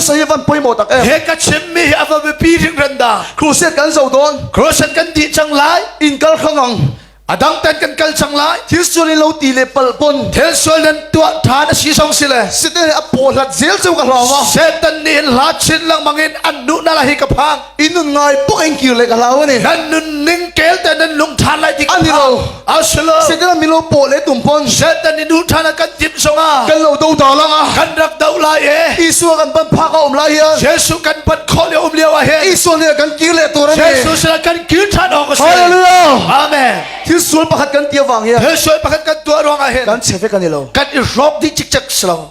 saya van poi mo tak em he ka chim mi a va pi ring ran da crusade kan zo don crusade kan di chang lai in kal khangong adang ten kan kal chang lai thil sual lo ti le pal pon thil sual nan tua tha na si song si le site a po hlat zel chu ka hlawma satan ni la chin lang mangin an nu na la hi ka phang Inun ngai puk in kir lek alau ani. Nan nun ning kel te nan lung than lai ti ani lo. Asilo. Sekala milo po le tum pon. Satan ni nu thana kan tim songa. Kan lo do da langa. Kan rak do lai e. Isu kan pan phak om lai hian. Jesu kan pan khol le om le wa he. Isu le kan kir le tur ani. Jesu sala kan kir than ok se. Hallelujah. Amen. Thil sul pakhat kan tia wang hian. Thil sul pakhat kan tua ruang a hen. Kan chefe kan ilo. Kan i rok di chik chak slang.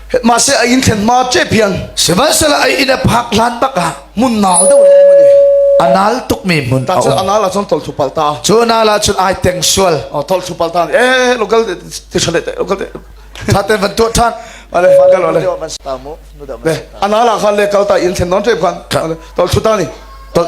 ma se a in thlen ma che piang sihmanhsehlaw ai in a phak hlan bak ah mun nal do le mani anal tuk mi mun ta chu anal chon tol thu pal ta chu na la chun ai teng sual o tol thu pal ta eh local ti shale local thaten van tu than ale gal ole nu da anala khan le kalta in thlen non te khan tol thu ta ni tol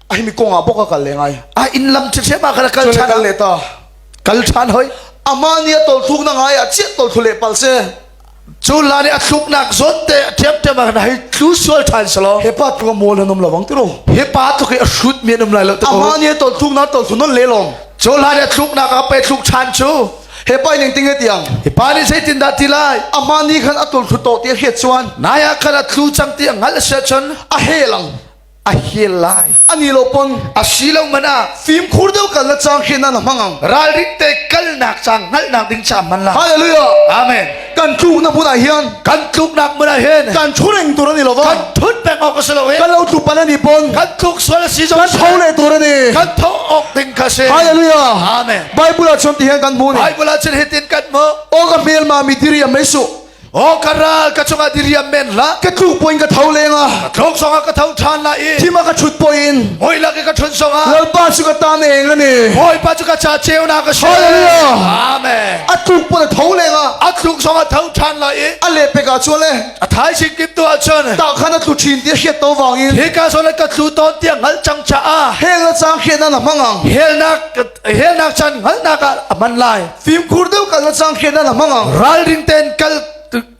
a himi kong ah bok a kal le ngai a in lam chi hre ma kana kal chan kal le ta kal chan hoi ama ni a tol thluk na ngai a chiat tol thlu le pal se cu la ni a thluk nak zon te thiam thiam ma kana hai thlu sual than salo he pa tu mol hanum lawang tiro he pa tu ke a shoot mi anum lai lo te ama ni a tol thluk na tol thlu non le long cu la ni a thluk nak a pe thluk chan chu he pa ning tinge tiang he pa ni sei tin da ti lai ama ni khan a tol thlu to ti he chuan na ya khan a tlu chang ti ngal se chon a he lang a hel lai ani lo pon a si lo man ah fimkhur deuh kal na cang khi nan mangang ralrin te kalnak cang ngalnak ding cha man la hallelujah amen kan tluk na hmunah hian kan tluk nak hmunah hian kan thureng tur ani lo kan thut pek ok se lo kan lo tlu pan ani pon kan tluk sual si zo kan tho le tur ani kan tho ok ding ka se hallelujah amen bible a chon ti hian kan mu ni bible a chon hitin kan mo o ka mel ma mitiri mai su Oh ka ral ka chungah diriam men la ka tlu poin ka tho lenga thong song ah ka tho than la i thima ka chut poin hoi la ke ka chun song ah lalpa chu ka ta ne nga ni hoi pa chu ka cha cheu na ka she hallelujah amen atluk pon tho lenga atluk song ah tho than la i ale pe ka chu le athai sik kim tu a chun ta khan atlu thin ti hiat to wangin he ka so le ka tlu ton ti ngal chang cha a hel na chang hian na mangang hel na helnak chan ngalnak ah a man lai fimkhur deuh kal sang khian ala mangang ralring ten kal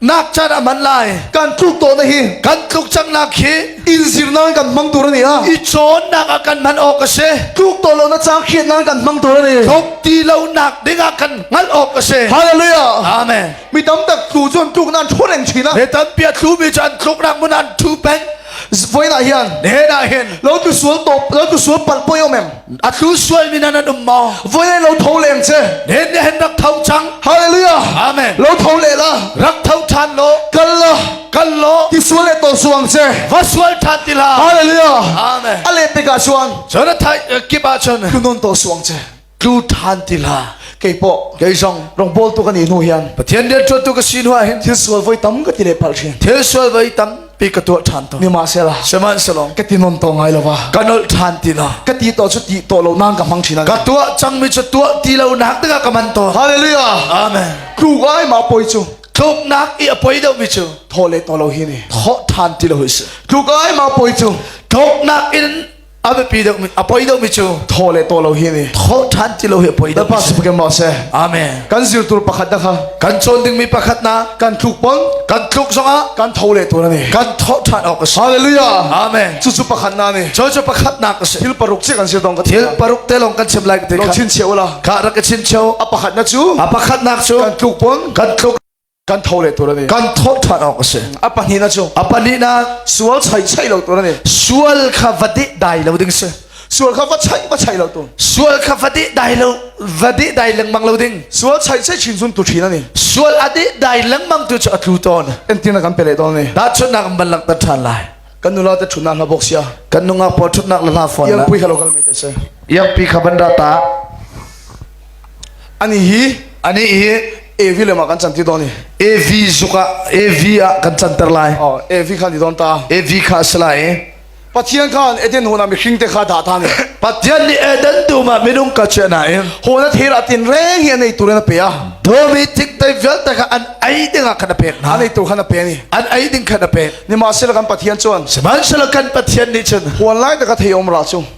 nak chan a man lai kan tluk to na hi kan tluk chang nak khi in zir na kan mang tur ni a i chon nak a kan man ok se tluk to lo na chang khian na kan mang tur ni thok ti lo nak dinga kan ngal ok se hallelujah amen mi tam tak tlu chun tluk nan thu reng china ne tan pia tlu mi chan tluk rak mun an thu peng voilah hian hnenah hin lo tu sual top lo tu sual pal poi om em a tlu sual mi nan um mo voi le lo tho leng che nen ne hen rak tho chang hallelujah amen lo tho le la rak tho than lo kal la kal lo ti sual le to suang che va sual than ti la hallelujah amen ale pe ka chuan chona thai kipa chon kunon to suang che tlu than tila kei po kei zong rong bol tu kan i nu hian pathian rian tuan tu ka si nu hin thil sual voi tam ka ti le pal thin thil sual voi tam pi ka tua than to ni ma se la shaman salong ka ti non to ngai lo wa ka nol than ti na ka ti to chu ti to lo nang ka mang thina ka tua chang mi chu tua ti lo nak daga ka man to hallelujah amen tlu ai ma poi chu tluk nak i apoi deuh mi chu tho le to lo hi ni tho than ti lo his tlu ai ma poi chu tluk nak in a biapi deuhmi a poi deuhmi cu tho le to lo hi ni tho ṭhan ti lo hi a poi deuh lepas peke mo se amen kan zir tur pakhat na kha kan cawn dingmi pakhat na kan tluk pon kan tluk zongah kan tho le tu na ni kan tho ṭhan awk a si hallelujah amen cucu pakhat na ni cho cho pakhat nak a si thil paruk si kan si dong ka thil paruk te long kan chem lai ka te lo chin cheu la ka rak ka chin cheu a pakhat na cu a pakhat nak cu kan tluk pon kan tluk kan tho le tur ani kan thawt than awk a si a pahnih na cu a pahnih na sual chai chai lo tur ani sual kha va de dai lo ding si sual kha va chai va chai lo tu sual kha va de dai lo va de dai lengmang lo ding sual chai chai chin sun tu thin ani sual a de dai lengmang tu chu a tlu ton en tin na kan pele ton ni da chu na kan ban lak ta than lai kan nula te thuna hla box ya kan nunga po thutnak la hla phone yang pi halo kal me te se yang pi kha ban ra ta Ani hi ani hi Evi le ma kan can ti don i Evi zuk ah Evi ah kan can ter lai. Oh Evi khan i don ta. Evi kha a si lai i Pathian khan Eden hona mihring te kha dah ta ne. Pathian nih Eden tu ma minung ka che na in. Hona thera tin reng hi nei tu na pe a. Domi tik tai vial ta kha an ai ding ah kan pek na. Anei tu khan a pe ni. An ai ding kan pek. Ni ma sila kan Pathian chuan. Sihmanhsela kan Pathian nih cun. Huan lai ta ka thei om ra chu.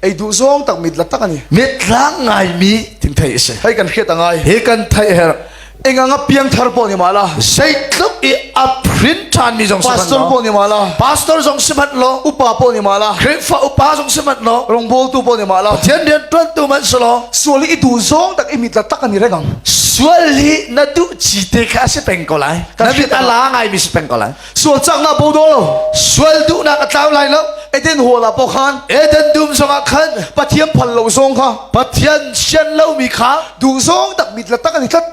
ei duh zong tak mit la tak ani mit tlang ngai mi thing thei ase hei kan hriat a ngai he kan thei her enga nga piang thar po ni mala sei tluk i a print than mi jong pastor po ni mala pastor jong simat lo upa po ni mala khrifwa upa jong simat lo rongbol tu po ni mala thian rian tuan tu man solo suali i du zong tak i mit la tak ani regang sual hi na du chi te kha se peng ko lai na mit ala ngai mi se peng ko lai sual cangnak bodol sual duhnak a tlau lai lo eden hawla po khan eden dum zongah khan pathian phal lo zong kha pathian sian lo mi kha duh zong tak mit la tak ani tlat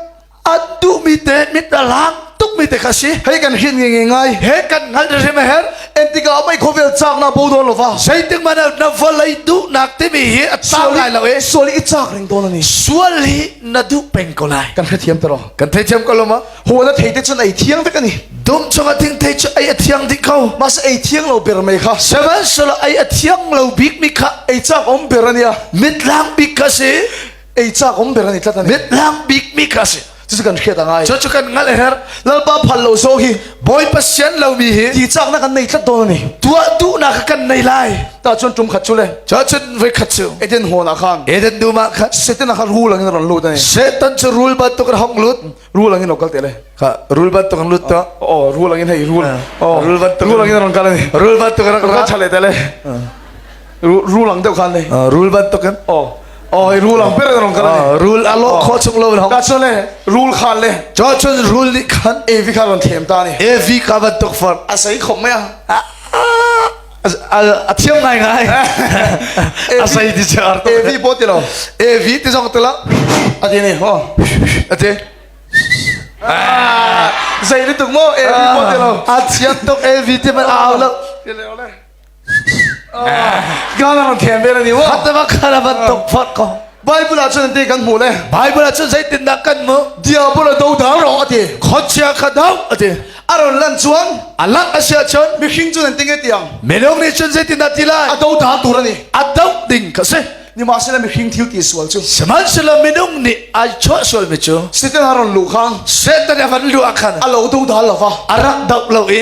an duh mi te mit a lang tuk mi te kha si hei kan hin nge nge ngai he kan ngal re me her entika mai khovel chak na bodol lova zeitik man na valai du nak te mi hi a chau lai lo e suali i chak ring to la ni sual hi na du peng ko lai kan kha thiam taro kan thei thiam ko loma haw na thei te cun ei thiang te kan i dum chunga ding thei cu ei a thiang ding ko mas ei thiang lo ber mai kha seven sala ei a thiang lo bik mi kha ei chak om ber ania mit lang bik ka si ei chak om ber ani tlat ani mit lang bik mi ka si cucu kan hriat a ngai cu cu kan ngal her lalpa phal lo zo hi boy pasien lo mi hi ti chak na kan nei tlat don ani tua du na ka kan nei lai ta chun tum khat chu le cha chun ve khat chu eden hona khan eden duma khat setin a har hu langin ron lut ani setan chu rul ba to kan hong lut rul angin lo kal te le ka rul ban tung lut ta oh rul angin hei rul oh rul ban tung rul angin ron kal ni rul ban tung rak ka chale te le rul ang deu khan le rul ban tung kan oh oh rul ang per ron kal ni rul alo kho chung lo hong ka chun le rul khan le cho chun rul ni khan evi kha ron them ta ni evi ka ban tuk far asai khom maya a thiam ngai ngai a sei ti che ar to evi bo ti lo evi ti zong ti la a ti ne ho a ti zei ni tuk mo evi bo ti lo a thiam tuk evi ti man au la ti le ole ga na thiam be ni wo hat ma khara ban tok phak ko Bible ah cun te kan hmu le Bible ah cun zeitindah kan hmuh diabol a do da ro ati khonchia kha do ati aron lan chuan alak asia chon mihring cun an tinge tiang minung nih cun zeitindah tilai a do da tur ani a do ding ka se ni ma sila mihring thil ti sual chu sihmanhsehlaw minung nih ai chuah sual mi cu Satan aron lu kha Satan a kan lu akhan a lo do da lova arak dap lo i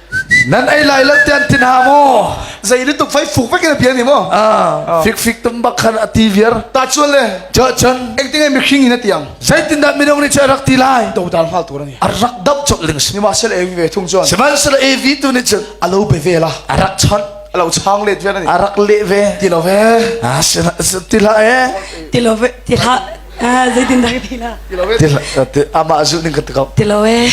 nan ei lai lo tian tin ha mu zei ni tuk fai fuk pe ke pian ni mo ah fik fik tum bak khan ati viar ta chuan le cha chan eng tinge mi khing in atiang sai tin dat minong ni cha rak ti lai do dal mal tur ani arak dap chok ling ni ma sel evi ve thung chuan siman sel evi tu ni chun alo be ve la arak chon alo chang let vian ani arak le ve ti lo ve ah sena ti la e ti lo ve ti la Ah, zeitindah ka tila? Amah zulh ning ka tikau. Tilo e.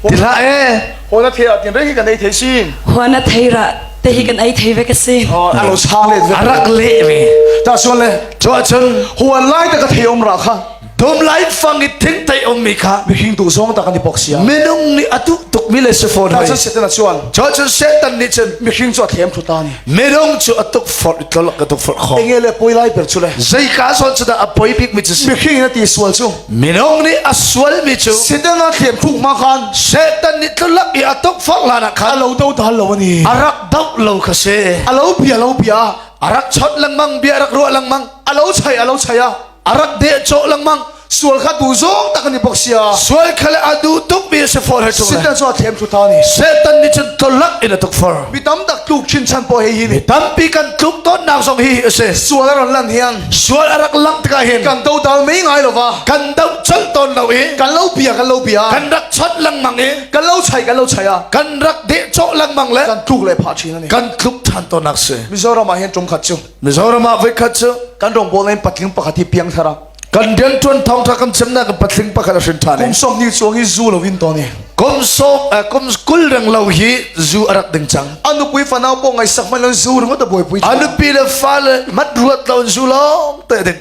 Tila e. Hona thea tin reng kan ei thei sin. Hona theira te hi kan ei thei ve ka sin. Alo sang le. Arak le ve. Ta suan le. Cho achun. Huan lai ta ka thei om ra kha. Dom lai fang i thing tai om mi kha. Mi hing tu zong ta kan i pok sia. Minung ni atu tuk mi le se phone. Ta chun setan achuan. Cho chun setan ni chun. Mi hing cho thlem thu ta ni. Medong cu atuk forh itlolak ka tuk forh khom. Enge le poi lai ber chu le. Zeika son chu da a poi bik mi chu si. Mihring na ti sual chu. Minong ni a sual mi chu. Sidanga thlem thuk ma khan. Satan ni tlolak i atuk forh lana khan. Alo do dal lo ani. Arak dau lo ka se. Alo bia lo bia. Arak chot lang mang bia arak ro lang mang. Alo chai alo chai a. arat de cho langmang sual kha du zong tak ani bok sia sual khale adu tuk bi se for he chung sitan so thlem thu thani satan ni chen tolak in atuk for mi tam tak tluk chin chan po he hi ni tampi kan tluk ton nak zong hi ase sual aran lan hiang sual arak lang tka hin kan do dal mai ngai lova kan do chal ton lo i kan lo bia kan lo bia kan rak chot langmang i kan lo chai kan lo chai a kan rak de cho langmang le kan tluk le pha chin ani kan tluk than ton nak se mizoram ah hen tum khat chu Mizoram ah voikhat cu kan rawngbawl in patling pakhat hi piang thara kan rian tuan thong tha kan chem na kan patling pakhat a hrin tha ne kum som ni chuang hi zu lo in to ne kum som kum kul reng lo hi zu a rak ding chang anu kui fanau po ngai sak man lo zu ringot a boi pui anu pi le fa le mat ruat lo zu lo te ding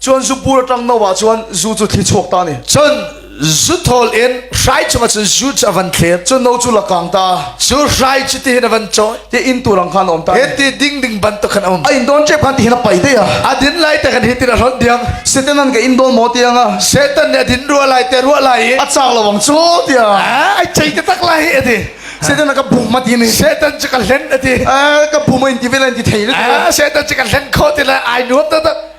Cun zupur tang no ah cun zu cu thli chuak ta ni. Cun zu thol in hrai chungah cun zu cu a van thlir. Cun no cu la kang ta. Cu hrai cu tihin a van choi. Ti inn tu rang khan om ta. Hiti ding ding bantuk khan um. A inn dawn ṭep khan tihin a pai te ya. A din lai te khan hitin a hlonh diang. Satan an ka inn dawn maw tiang ah. Satan nih a din rua lai te rua lai i. A chak lo wang cu tiang. Ah, ai chei te tak lai ati. Satan a ka buk ma ti ni. Satan cu ka hlen ati. Ah, ka bum in ti vel an ti thei le. Ah, Satan cu ka hlen kho ti lai. Ai nuam ta tak.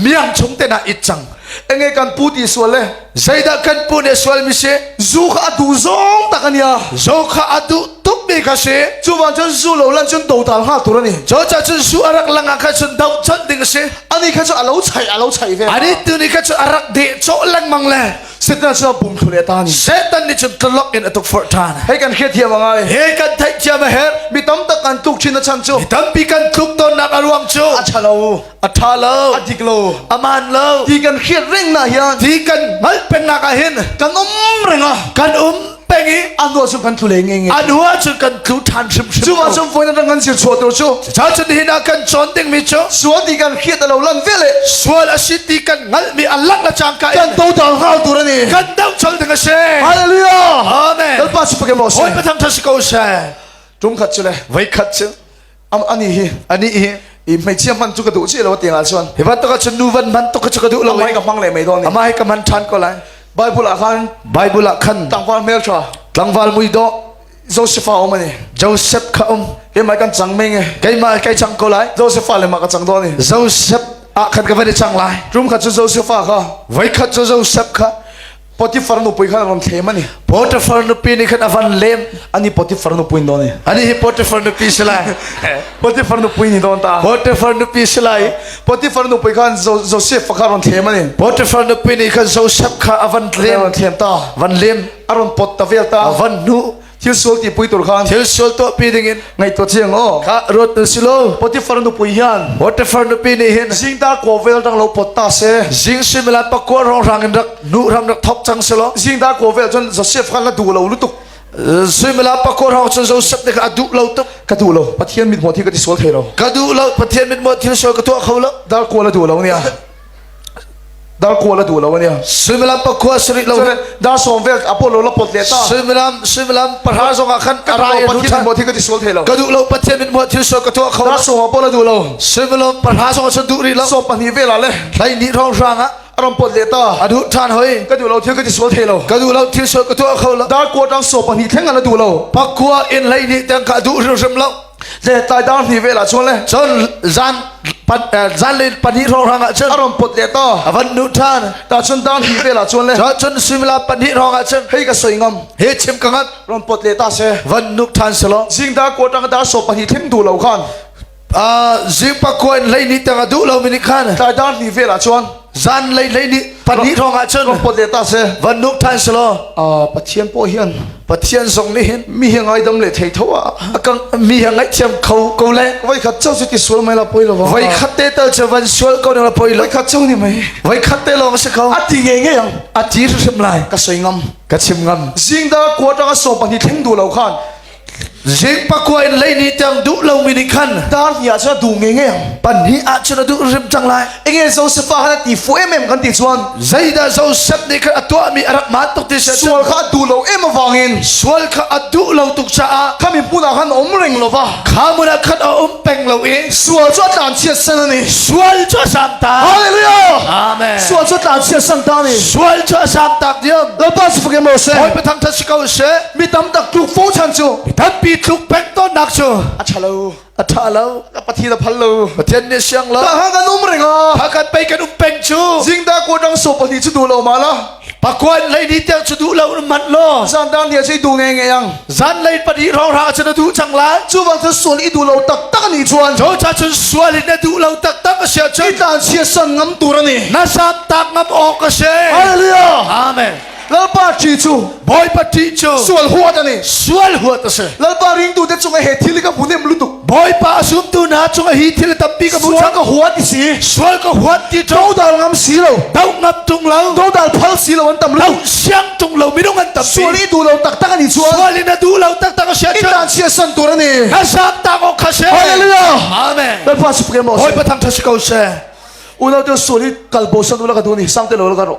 miang chung te na it cang enge kan pu ti sual le zeidah kan pu ne sual mi si zu kha adu zong tak ania zo kha adu tuk mi kha si chu van chun zu lo lan chun do tal nga tur ani zo cha chun su arak langa kha chun dau chon ding si ani kha chu alo chai alo chai ve ani tu ni kha chu arak de cho lang mang le setan chu bum thu le ta ni setan ni chun tlok in atuk for than hei kan khe thiam anga he kan thai chiam her mi tam tak kan tuk chin na chan chu mi tampi kan tuk ton nak aruang chu a chalo a ṭha lo a dik lo a man lo ti kan hriat reng na hian ti kan hngalh pennak ah hin kan um reng a kan um peng i anu cu kan thu le nge nge anu ah cu kan tlu ṭhan hrim hrim chuma chung phone dang kan sil chuah tur chu cha chun hi na kan chon ding mi chu sual ti kan khiat a lo lang ve le sual a si ti kan ngal mi alak la chang ka kan to dang hau tur ani kan dau chol ding a se hallelujah amen lalpa su pake mo se oi patham tha si ko se tum khat chu le vai khat chu am ani hi ani hi i hmeichia man chu ka duh chi lo tiang ah chuan hi bat to ka chun nu van man to ka chu ka duh lo mai ka mang le mai don ama hi ka man than ko lai bible ah khan bible ah khan tangwal mel tha tlangwal mui do joseph a om ani joseph kha om he mai kan chang mai nge keima kai chang ko lai joseph le ma ka chang do ni joseph a khan ka van chang lai rum kha chu joseph kha vai kha chu joseph kha Potifar nu pui kha ron thlem ani Potifar nu pi ni khan avan lem ani Potifar nu pui don ani hi Potifar nu pi sila Potifar nu pui ni don ta Potifar nu pi sila Potifar nu pui khan Joseph kha ron thlem ani Potifar nu pi ni khan Joseph kha avan lem ron thlem ta van lem aron pot tavel ta van nu thil sual ti pui tur khan thil sual to pi ding in ngai to thiang o kha ruat na silo potifar nu pui hian potifar nu pi ni hin jing ta ko vel dang lo pot ta se jing sin milan pakwa rong rang in rak nu ram rak thop chang selo jing ta ko vel chun zo sef khan la du lo lu tuk suimila pakor hong chun joseph ne ka adu lo tuk ka du lo pathian mit mo thi ka ti sual thei lo ka du lo pathian mit mo thil sual ka to kho lo dal ko la du lo nia dar ko la du lo ne sumilam pa khua sari lo dar som vel apollo la pot le ta sumilam sumilam para zong a khan arai lu than mo thi ka ti sol the lo ka du lo pathian min mo thil so ka to kho dar som apollo du lo sumilam para zong sun du ri la som pa ni vela le lai ni rong ranga arom pot le ta adu than hoi ka du lo thil ka ti sol the lo ka du lo thil so ka to kho la dar ko dang so pa ni theng ala du lo pa khua in lai ni tang ka du rim rim lo le tlai dang hni ve la chuan le cun zan zan le pahnih rong rang ah cun aron put le to avan nu than ta chun dang hni ve la chuan le cun simila pahnih rong ah cun hei ka soi ngam he chim ka ngat ron put le ta se van nuk than selo jingda kotang da so pahnih thing du lo khan a jing pa koin lei ni tang adu lo mini khan tlai dang hni ve la chuan Zan lei lei ni pahnih thong ah cun Kompo te ta se van nuk than selo uh, Pathian po hian Pathian zong nih hin mi hi ngai dam le thei tho a akang mi hi ngai thiam kho ko le vai khat chau si ti sual mai la poi lo vai khat te tal che van sual ko na poi vai khat chau ni mai vai khat te long se kho ati nge nge yang ati rim lai ka soi ngam ka chim ngam jing da quarter ka so pahnih thleng du lo khan Zing pakua in lei ni tiang duh lo mi nih khan Dar ni ah cun du nge nge pan ni ah cun a duh rim cang lai enge Joseph a kan ti fu em em kan ti chuan zeidah Joseph nih khan a tuah mi a rak ma tuk ti sai sual kha a duh lo em awangin sual kha a duh lo tuk caah khami hmun ah khan om reng lova kha mun ah khan a um peng lo i sual cu a tlan chia san ani sual cu a sam ta hallelujah amen sual cu tlan chia san ta ni sual cu a sam tak diam lapa si fake mo se hoi pathang that si ko se mi tam tak tluk fo chan cu Mitanpi tluk pek tonnak cu a ṭha lo a ṭha lo ka pathi da phal lo Pathian nih siang la ka ha kan um ring a ha kan pei kan um peng cu jingda ko dang so pali chu du lo ma la pakwan lei ni te chu du lo mat lo zan dan lia sei du nge nge yang zan lei padi rong ra chu na du chang la chu bang thut sul i du lo tak tak ni chuan cho cha chun sual in na du lo tak tak a sia chun i tan sia san ngam tur ani na sap tak ngam ok ka se haleluya amen Lalpa ṭi cu Bawipa ṭi cu sual huat a ni sual huat a si Lalpa ringtu te cung he thil ka hmu nem lutuk Bawipa a sumtu hna cung hi thil tampi ka hmu cang ka huat i si sual ka huat ti to dal ngam si lo do ngap tung lo do dal phal si lo an tam lo siang tung lo minung an tam sual i du lo tak tak ani chuan sual in a du lo tak tak a sia in dan sia san tur ani ka sam ta ko kha se hallelujah amen Lalpa su ke mo Bawipa thang tha si ko se unau te sual i kalbo san ulaka duni sang te lo la karo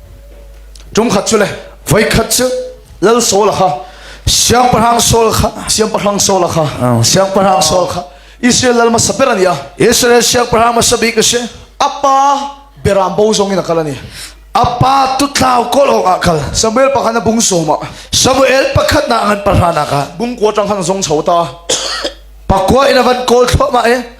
ṭum khat cu le voi khat cu lal sawl kha siangpahrang sawl kha siangpahrang sawl kha siangpahrang sawl kha Israel lal hmasa ber ani a Israel siangpahrang hmasa bik a si apa beram bo zong in a kal ani apa tutlau kol hong ah kal Samuel pakhat na bung soma Samuel pakhat na ngan pahra na ka bung ko tang khan zong chauta pakwa ina van kol thlo ma e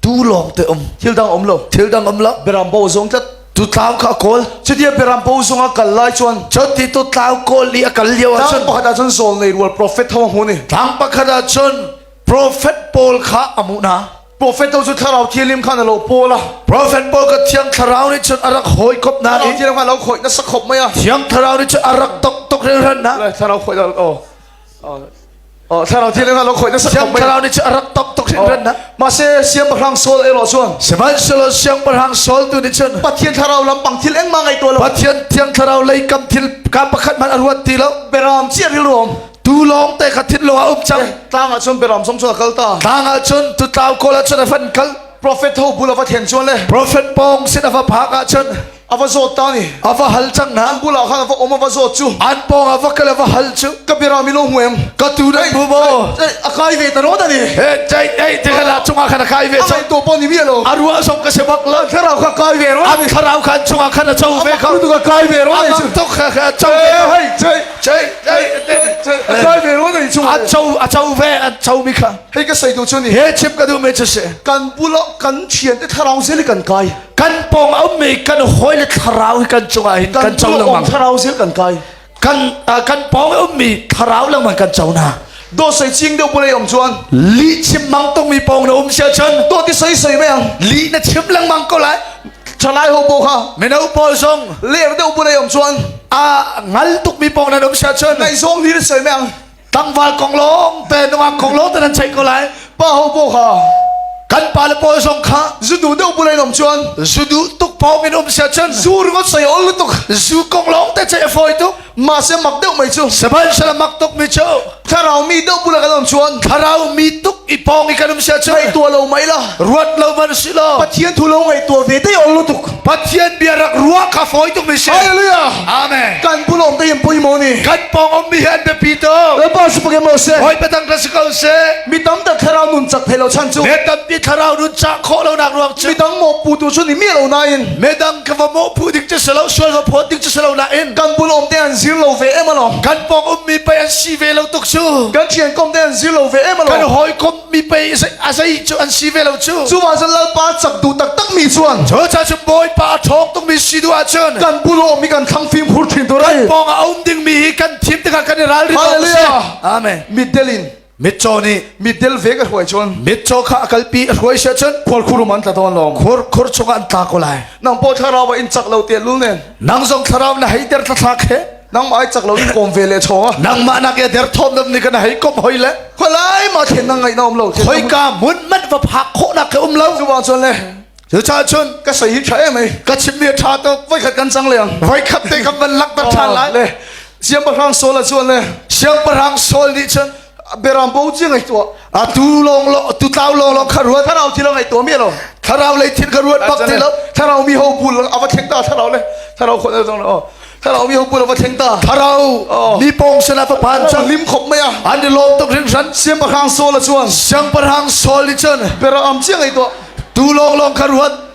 tu lawng te um thil dang um lo thil dang um lo berambo zong tlat tu tlau kha kawl chudia berambo zong a kal lai chuan choti tu tlau kawl i a kal liao ah chun pakhat ah chun sol nei rual prophet ho hu ni tlang pakhat ah chun prophet paul kha amu na prophet to chu thlarau thilim khan alo pola prophet paul ka thiang thlarau ni chun arak hoi kop na ni thiang kha lo khoi na sakhop maya thiang thlarau ni chun arak tok tok ren ran na thlarau khoi da o thlarau thil nga lo khoi na sak thong thlarau ni chu rak top tok sin ren na ma se siam bahrang sol e lo chuang semal solo siam bahrang sol tu ni chun pathian thlarau lam pang thil engma ngai to lo pathian thiang thlarau lei kam thil ka pakhat man aruat ti lo beram chi ril rom tu long te khathit lo a up chang tlanga chun beram som chun kal ta tlanga chun tu tlaw kola chun a fan kal prophet ho bula va thian chuan le prophet pong sin ava phaka chun a va zawt ta ni a va hal chang na an bula khan va om a va zawt chu an pong a va kal a va hal chu ka bira mi lo hueng ka tu dai bu bo a kai ve ta ro da ni he chai dai te kala chunga khan kai ve chu to pon ni mi lo a ruwa som ka sebak la kharau kha kai ve ro am kharau khan chunga khan a chau ve kha tu ka kai ve ro ni chu to kha kha chau ve hai chai chai chai kai ve ro ni chu a chau a chau ve a chau mi kha hei ka sai tu chu ni he chip ka du me che se kan bula kan chian te tharau zeli kan kai kan pawng a um mi kan hawi le thlarau hi kan cung ah hin kan co lengmang thlarau sil kan kai kan kan pawng a um mi thlarau lengmang kan co na do sai ching deuh pulei om chuan li chim mang tong mi pawng na um sia chan to ti sai sai me ang li na chim lengmang ko lai thalai ho bo kha meno paul song leer deuh pulei om chuan a ngal tuk mi pawng na um sia chan nai song hi sai me ang Tangval kong lawng te nungak kong lawng te nan check ko lai pa ho bo ha kan pa le pawl zong kha zudu deuh bulai nom chuan zudu tuk pau min um sia chan zu ringot sai ol tuk zu kong lawng te che foi tuk ma se mak deuh mai chu seban sala mak tuk mi chu thlarau mi deuh bula kan om chuan thlarau mi tuk i pong i kanum sia chu ngai tua lo mai la ruat lo man si lo pathian thu lo ngai tua ve te ol tuk Pathian bia rak ruah kha fawi tuk mi si. Hallelujah. Amen. Kan pulawng te in pui mo ni. Kan pawng mi hi an biapi tuk. Lalpa si pake mo se. Hoi patang ka si ko se. Mi tam ta thlarau nun chak thei lo chan chu. Me tam pi thlarau nun chak kho lo nak ruak chu. Mi dang mo pu tu chu ni mi lo na in. Me dang ka va mo pu dik che se lo sual va phot dik che se lo la in. Kan pulawng te an zir lo ve em alo. Kan pawng um mi pai an si ve lo tuk chu. Kan thian kom te an zir lo ve em alo. Kan hoi kom mi pei a zei cu an si ve lo cu cu ah cun lalpa chak duh taktak mi chuan cu cha cu bawipa a ṭhawng tung mi si duh ahcun kan bulo mi kan thlang fim hur ṭhin tu rai pawng a um ding mi hi kan thim tikah kan i ral ri hallelujah amen mitdel in mitchaw nih mitdel ve ka hruai chun mitchaw kha a kalpi a hruai se chun khor khurum an tla ton lom khor khor chung an tla ko lai nang po thlarau in chak lo te lu nen nang zong thlarau na heiter tla thlak he nangmah ai chak lo in kawm ve le chong ah nangmah nak ya der thom nam ni kan hei kom hoi le kholai ma thlen nang ngai na um lo hoi ka mun mat va phak kho na ka um lo chu ba chon le chu cha chun ka sai hi tha em ai ka chim ni tha to voi khat kan chang le ang voi khat te ka man lak ta than lai le siam parang sol a chon le siam parang sol ni chun berang bo chi ngai to atu long lo tu tlau long long kha ruat tharau chi lo ngai to mi lo tharau le thin ka ruat bak ti lo tharau mi ho bul ava thleng ta tharau le tharau khon zong no tharau mi ho bul ava thleng ta tharau ni pong sena to pan cha lim khop mai a an de lom tok rin ran siam pa khang sol a chuan siang par hang sol ni chan berang am chi ngai to tu long long kha ruat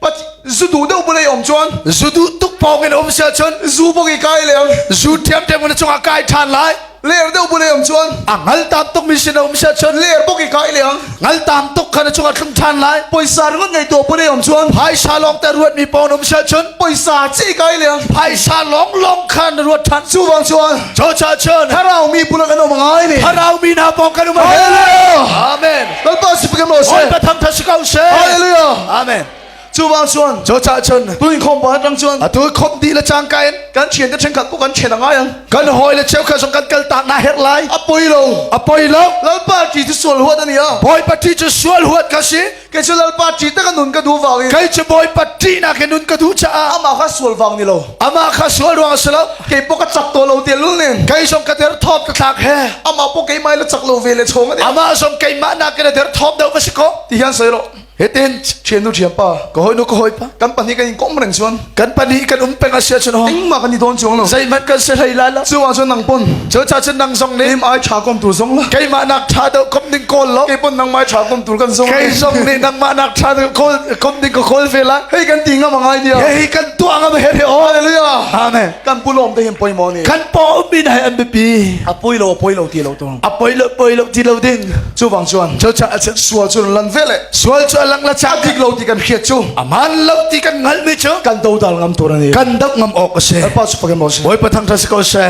But zudu deuh pulei om chuan zudu tuk pawng in om sia chun zu bogi kai le zu tiam tiam na chungah kai than lai ler deuh pulei om chuan a ngal tam tuk mi sin om sia chun ler bogi kai le ngal tam tuk khana chungah thlung than lai poisa ringon ngei to pulei om chuan phaisa long te ruat mi pawng om sia chun poisa chi kai le phaisa long long khan ruat than chu wang chuan cho cha chun tharau mi pulang an om ngai ni tharau mi na pawng kan om amen Lalpa si pekam lo she. All patham tha si ko she. Hallelujah. Amen. Chubang chuan. Cho cha chun. Tu in khom ba tang chuan. Atu khom di la chang kain. Kan chien te chen khat ko kan chen angai ang. Kan hoi le cheu kha song kan kal ta na her lai. Apoi lo. Apoi lo. Lalpa ti ti sual huat ani a. Boi pati chu sual huat ka si. Ke chu lalpa ti ta kan nun ka du wang. Kai chu boi pati na ke nun ka du cha. Ama kha sual wang ni lo. Ama kha sual ruang a si lo. Kei pawh ka chak to lo te lu nen. Kai som ka der thop ka thlak he. Ama pawh kei mai la chak lo ve le chong ane. Ama som kei ma na ke der thop deuh va si ko. Ti hian sai lo. Heten thienu thiam pa. Ka hoi nu ka hoi pa. Kan pahnih kan in kom reng chuan. Kan pahnih kan um peng asia chun ho. Engma kan i don chuang lo. Zai mat kan se hlai la la. Chuang chun nang pon. Cho cha chun nang zong ne. Im ai tha kom tu zong la. Kai ma nak tha deuh kom ding kol lo. Kei pon nang mai tha kom tur kan zong. Kai zong ne nang ma nak tha deuh kol kom ding ka khol ve la hei kan ti ngam ngai dia hei kan tu ngam he he hallelujah amen kan pulom te hem poi mo ni kan po min hai an bi a poi lo poi lo ti lo to a poi lo poi lo ti lo ding chu bang chuan cho cha a chet sual chu lan ve le sual chu lang la cha dik lo ti kan khiat chu aman lo ti kan ngal mi chu kan do dal ngam tur ani kan dap ngam ok se pa chu pakem mo se boi pathang tha se ko se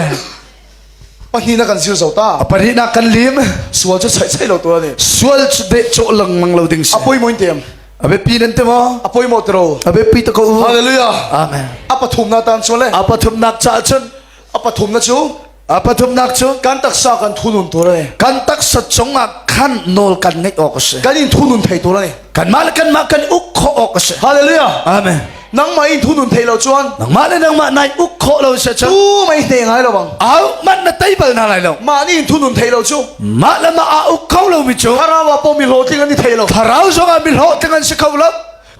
pahnih na kan sir zo ta pari na kan lim sual cu soi soi lo tu ni sual cu de cho lengmang lo ding si apoi moin tem abe pi nan te ma apoi mo tro abe pi ta ko hallelujah amen apathum na tan chu le apathum nak cha chun apathum na chu apathum nak chu kan taksa kan thunun tur ne kan taksa chunga khan nol kan nei ok se kan in thunun thei tur ne kanmah le kanmah kan uk khawh awk a si hallelujah amen nangmah in thunun thei lo chuan nangmah le nangmah nai uk khawh lo se chu mei te ngai lo bang au man na tei bal na lai lo ma ni in thunun thei lo chu ma le ma a uk kho lo mi chu tharawa po mi lo tling an ni thei lo tharau zonga mi lo tling an si kho lo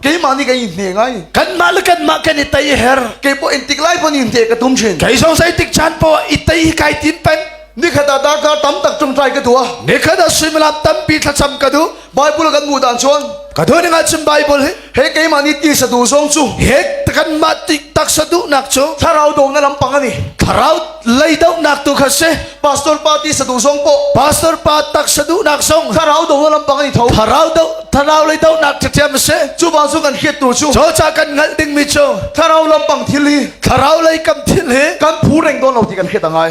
keimah ni kan in hne ngai kanmah le kanmah kan i tei her ke po in tik lai po ni te ka tum chin kai song sai tik chan po i tei hi kai tin pen nikhat ta darkar tam tak tum trai ka tua nikhat a simlap tampi thlacham ka du Bible kan mu dan chuan ka thu ning chim Bible hi he keimah ni ti sadu zong chu he kan ma ti tak sadu nak chu thlarau do na lampang ani thlarau lei do nak tu kha se pastor pa ti sadu zong po pastor pa tak sadu nak song thlarau do na lampang ani tho thlarau do thlarau lei do nak te tem se chu ba chu kan khiet tu chu cho cha kan ngal ding mi chu thlarau lampang thil hi thlarau lei kam thil hi kan phu reng don lo ti kan khiet angai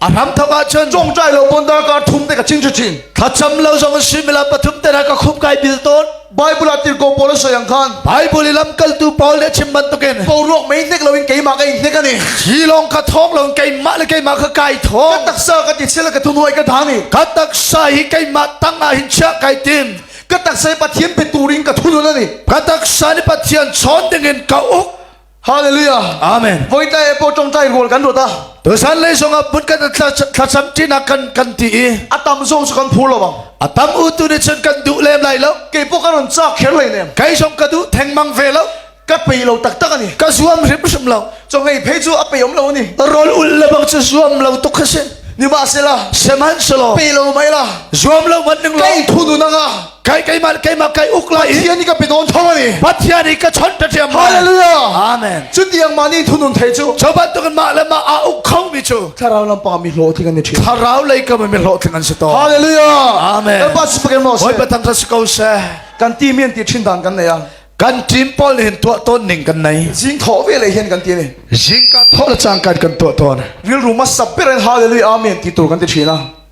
a hram thok ah cun chongtlai lo bon dar ka thum te ka ching chu ching thlacham lo zong simila pathum te na ka khum kai bil ton bible a tirko pol sayang khan bible ilam kaltu paul le chim ban token ko ruak mai nek lo in keima ka in nek ani hi long ka thong lo in keima le keima ka kai thong ka taksa ka ti sela ka thunoi ka thani ka taksa hi keima tanga hin cha kai tin ka taksa pathian pe turin ka thunun ani ka taksa ni pathian chon dingin ka uk Hallelujah. Amen. Voi ta e po tong tai rol kan rota. Tu san lei song ah but kan thlasam ti nak kan kan ti i Atam zong su kan phulo bang. atam u tu ni chun kan du lem lai lo Ke po kan cha kher lai nem. kai song ka du theng mang ve lo Ka pe lo tak tak ani. ka zuam rim rim lo Cho ngei pe chu a pe om lo ni. rol ul la bang chu zuam lo tuk kha si Ni ma sela. seman selo pe lo mai la. zuam lo man ning lo kai thu nu nanga. kai keimah le keimah kai uk lai i Pathian i ka pe tawn tho ani Pathian i ka chawnh ta thiam mai hallelujah amen cu tiang mah nih thunun thei cu cho bantuk in mah le mah aa uk kho mi cu thlarau lampa mi hlawh thi kan ni thin thlarau lei ka mi hlawh tling an si to hallelujah amen Lalpa sipakin mo hoi se pathang sa si ko se kan ti mian ti thin dan kan nei a kan team paul nin tua ton ning kan nei jing tho ve le hian kan ti ni jing ka tho la chang kan kan tua ton wil ru ma sap ber in hallelujah amen ti tur kan ti thin a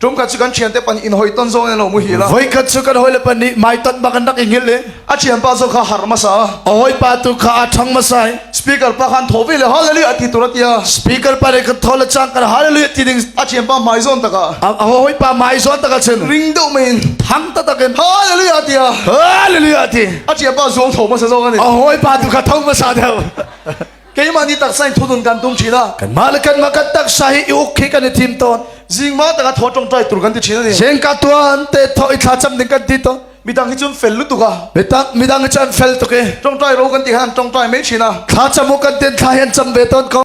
tum ka chu kan thian te pan in hoi ton zo ne lo mu hi la voi kan chu kan hoi le pan ni mai ton ba kan dak ingil le a thian pa zo kha har ma sa hoi pa tu kha a thang ma sai speaker pa khan thovi le hallelujah ati tu ratia speaker pa re kan thol chang kan hallelujah ti ding a thian pa mai zon taka a hoi pa mai zon taka chen ring do mein thang ta takin hallelujah tia hallelujah ti a thian pa zo tho ma sa zo ne a hoi pa tu kha thong ma sa deu keimah nih taksa in thudun kan tum chin a kanmah le kanmah kan taksa hi i uk khi kan i thim tawn zingma tak a tho tong trai tur kan ti chin ani seng ka tuan te tho i thla cham ding kan ti to midang hi cun fel lutuk a mitak midang hi chan fel tuk e tong trai ro kan ti han tong trai mai chin a thla cham u kan ten thla hen cham ve ton ko